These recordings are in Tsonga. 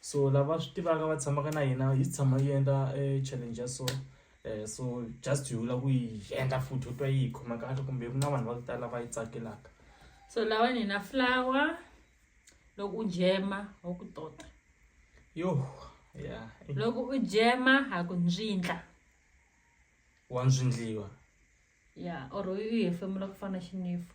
so lava swi tivaka va tshamaka na hina yi tshama yi endla challenge ya so um so just hi vula ku yi endla futhi u twa yi hi khoma kahle kumbe ku na vanhu va ku tala va yi tsakelaka so lawa ni na flower loko u jema wa ku tota yo ya loko u jema ha ku ndzindla wa ndzindliwa ya or u hefemula ku fana xinifu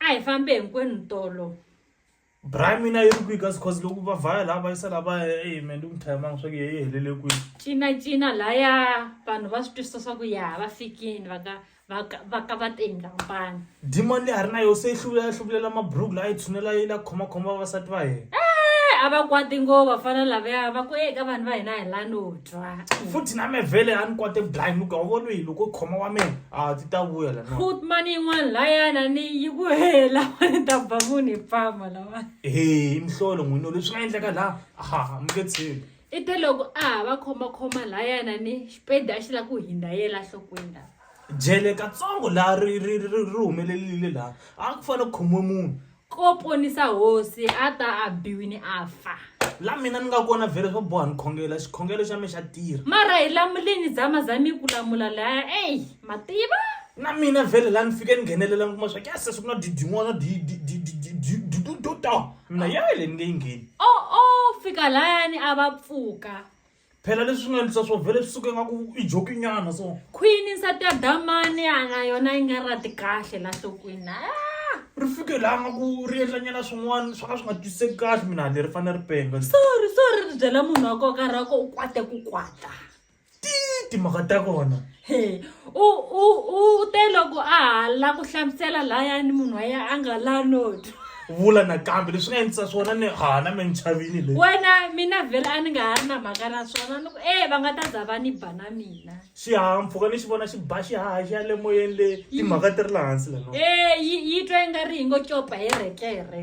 A hi fambe hinkwenu tolo. Bra mina yi ri kwihi kasi cause loko va vhaya laha va yisa laha va ya eyi me ndi ku muthayamangi swa ku ye yi helele kwihi cinacina laya vanhu va swi twisisa swa ku ya va fikini va ka va ka va ka va teni kampani demon leyi a ri na yo se yi hluvulela yi hluvulela maburuku laha yi tshunela yi la khomakhoma vavasati va yena Eh, a va kwati ngo vafana lavaya va ku eka vanhu va hina hi lanoni futhi na me vhele a ni kwate blind muka u vona yini loko khoma wa mina a ti ta vuya la fut mani yin'wana layana ni yi ku hela ni ta ba munhu hi pfama lawa he mihlolo n'wino leswi nga endleka laha aha mi nge tshembi i te loko a ha va khomakhoma layana ni xipedi a xi la ku hindza yela nhlokweni lawa jele katsongo laha ri ri ri ri ri humelelile laha a ku fanele ku khomiwe munhu ko ponisa hosi a ta a biwini a fa la mina ni nga kona vhele swo boha ni khongela xikhongelo xa mi xa tirha mara hi lamuleni dzama za mi ku lamula laya eyi mativa na mina vhele la ni fike ni nghenelela ni kuma swa kya sesi ku na didin'wana didudota mina yale ni nge yi ngheni o o fika layani a va pfuka phela leswi nga endlisa swo vhele swi suke ngaku i jokinyana so khwini nsati ya damani ana yona yi nga rati kahle la nhlokweni ah! ri fike laha nga ku ri endlanyana swin'wana swo ka swi nga twisiseki kahle mina ni ri fanele ri penga sorry sorry ri byela munhu wa koka ra ko u kwate ku kwata ti timhaka ta kona u u u te loko a ha la ku hlamusela layani munhu wa yena a nga la noti vula nakambe leswi nga endlisa swona ni hana me ni chavini le wena mina vhele a ni nga ha ri na mhaka na swona ni ku e va nga ta za va ni ba na mina xihahampfhuka ni xi vona xi ba xihaha xi ya le moyeni le timhaka ti ri laha hansi leno e yi yi twa yi nga ri yi ngo copa hi rekere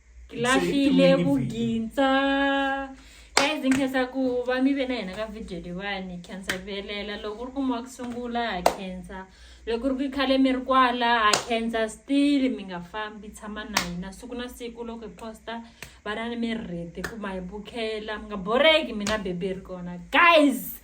ngilahlile vugintsa guys nkhensa ku va mi ve na hina ka video leyiwani khensa velela loko u ri kuma wa ku sungula ha khensa loko ri ku i khale mi ri kwala ha khensa still mi nga fambi tshama na hina siku na siku loko hi posta vana ni mi ri rete ku ma hi bukela mi nga boreki mina bebi ri kona guys